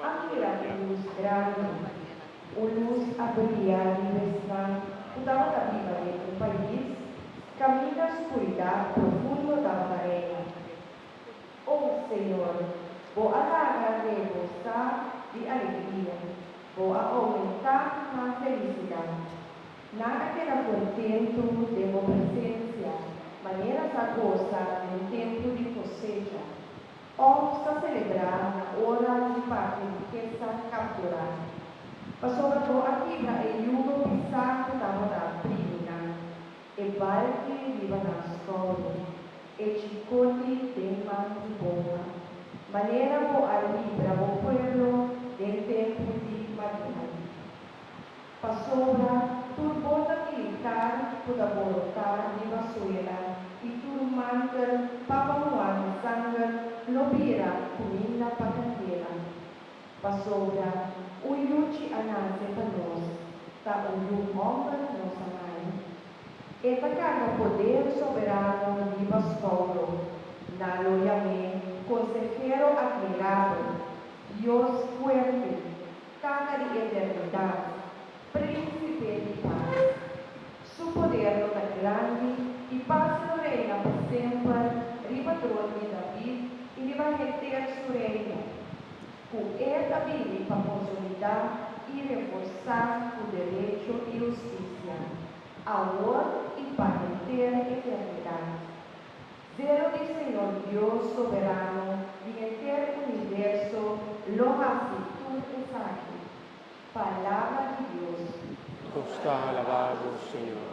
a mira e lus grandi, un lus a brilia riba esnan ku tabata biba den un pais kaminda skuridat profundo tabata reina. O Señor, Bo a laga rebo sa di alegria, Bo a oumentá nan felisidat. Nan a keda kontentu den Bo presensia, manera sa gosa den tempu di kosecha. òf sa selebrá na ora di parti rikesa kapturá. Pasobra bo a kibra e yugo pisá ku tabata aprimi nan, e balki riba nan skouder, e chikoti den man di bomba, manera bo a libra bo pueblo den tempu di Madián. Pasobra tur bota militar ku ta borotá riba suela i tur manter papamuana sanger lo bira kuminda pa kandela. Pasobra un yuchi a nase pa nos, ta un yu hòmber nos a mai. E ta karga poder soberano riba skoumbro. Nan lo yam'é Konsehero Atmirabel, Dios Fuerte, Kaka di eternidat, Príncipe di Paz. Su poder lo ta grandi i pas lo reina pa semper riba tron di David i riba henter su reino, ku e ta bini pa konsolidá i reforsá ku derecho i hustisia, awor i pa henter eternidat. Dje loke Señor Dios Soberano di henter universo lo hasi tur esaki. Palabra di Dios. Nos ta alabá bo, Señor.